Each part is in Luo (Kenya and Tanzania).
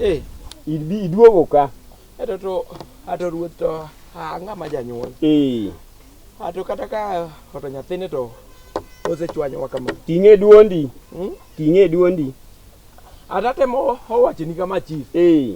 Eh, ibi iduogo ka. Eto to ato ruoth to ang'a ma janyuol. Eh. Ato kata ka oto nyathine to osechwanyowa kama. Ting'e duondi. Hmm? Ting'e duondi. Atatemo owachoni kama chief. Eh.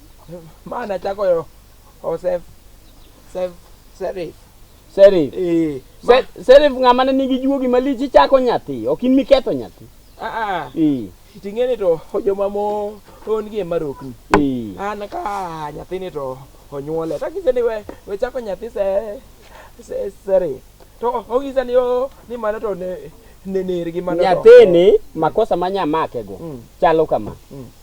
Ma nachako yo Joseph Sef Serif. Serif. Eh. ma- Se- Serif ng'ama ne nigi juogi malich ichako nyathi, ok in miketho nyathi. Ah ah. Ee, Ting'eni to joma mo on gi marokni. ee. An ka nyathini to onyuole. To kise ni we we chako nyathi se se Serif. To ogisa ni o ni mano to ne ne ner gi mano. to- Nyathini makosa ma nyamakego Mm. chalo kama. Mm.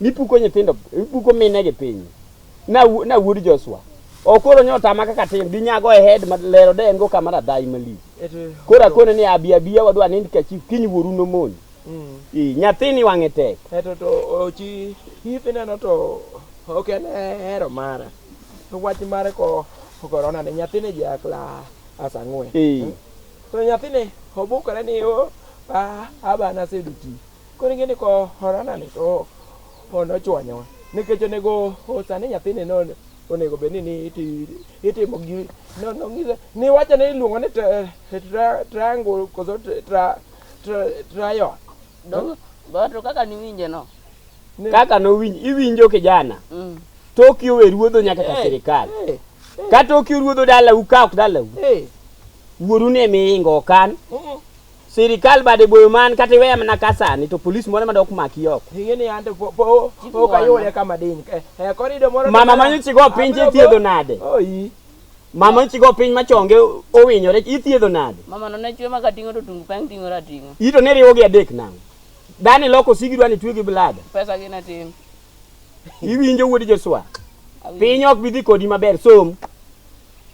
Nipuko nyithindo, ipuko mine gi piny. Na na wuod Joshua. Okoro nyota ma kaka tin gi nyago e head ma lero de en go kamera dai mali. Kora kone ni abi abi wadwa ni ka chief kiny wuoru no mon. Mm. Ii nyathini wang'e tek. Eto to ochi hithi neno to ok en hero mara. To wach mare ko korona ne nyathini jakla asang'we. Ii. Hmm? To nyathini obukore ni o oh, ah, abana seduti. Koro ing'e ni korona ni to nochwanyowa nikech onego osa ni nyathini no onego bed ni itimo gi nong'ise niwacho ni iluongo ni triangle koso triangle to kaka niwinje no kaka nowinj iwinjo kijana mm. toki owe ruodho nyaka ka sirikal ka toki ruodho dalau ka ok dalau wuoru ne miingo okan Sirikal bade boyo man kata iweya mana ka sani to polis moro madok maki oko. Ingeni ante po po po kayole kama diny. Eh, eh korido moro. Mama manyo chigo piny ithiedho nade? Oyi. Mama chigo piny machonge owinyore ithiedho nade? Mama no ne chwe maka tingo to tungu peng tingo ra tingo. Ito ne riwo gi adek nang. Dani loko sigi dwani twe gi blada. Pesa gi na tim. Iwinjo wuodi Joshua. Piny ok bidhi kodi maber som.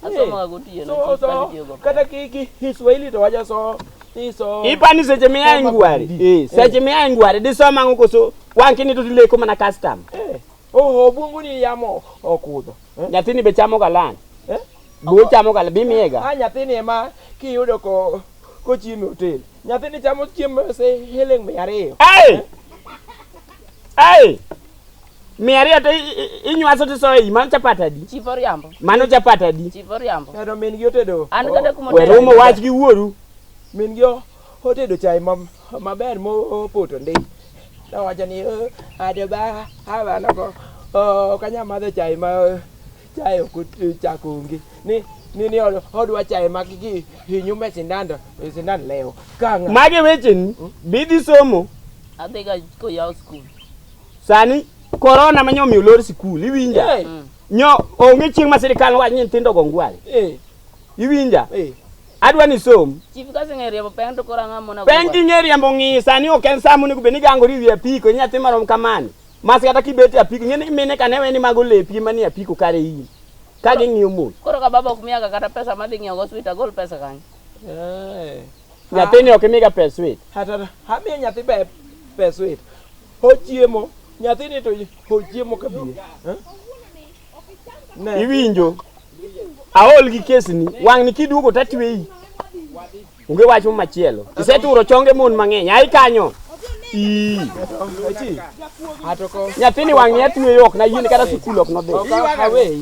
Asomoga gotieno. So so Somo. kata ki ki Kiswahili to waja so ni so. Ipani seche miya ingwari. Eh, seche miya ingwari disoma ango koso wang' kini to tileko mana custom. Eh. Oh, obungu ni yamo okudho. Eh? Nyathini be chamo galan. Eh? Bo chamo galan bimiega. Ah, nyathini ema kiyudo ko kochiemo e hotel. Nyathini chamo chiemo se heleng mia ariyo. Ai! Ai! Mia ariyo to inywaso to isoyo iyi, mano chapat adi? Chief Oriambo. Mano chapat adi? Chief Oriambo. Pero min gi otedo. An kata kuma otedo. Werumo wach gi wuoru. Min gi otedo chai maber mopoto ndi. Nowacho ni oh, adeba hawa noko oh, ok anyal madho chai ma chai ok chak onge. Ni ni ni odwa chai ma gi hinyu me sindando e sindan leo. Kanga. Magi wecheni bidhi somo. Adhiga koyaw skul. Sani korona ma nyomiyo lor sikul iwinja. Hey. Nyo onge chieng' ma sirkal wach ni nyithindo go ngwale. Hey. Iwinja? Hey. Adwa ni som. Chief ka sing'e riembo peng to kora ng'a mona. Peng ing'e riembo ng'i sani ok en saa monego bed ni gangori wi apiko nyathi marom kamani. Mas kata kibet e apiko ing'e ni mine kane weni mago lepi mani apiko kare in. Ka ging'iyo mos. Koro ka baba ok miyaga kata pesa madhi ng'iewo go sweet agol pesa kanyo. Hey. Nyathini ok imiga pes wit. Hata hamiye nyathi be pes wit. Hochiemo, nyathini to hochiemo kabie. Eh? Ne. Iwinjo. Aol gi kesni, wang'ni kiduogo tatweyi. Onge wach machielo. Iseturo chonge mon mang'eny. Ai kanyo. Ii. Achi. Atoko. Nyathini wang'ni atweyo ok na yini kata sukul ok nodhi. Okawe.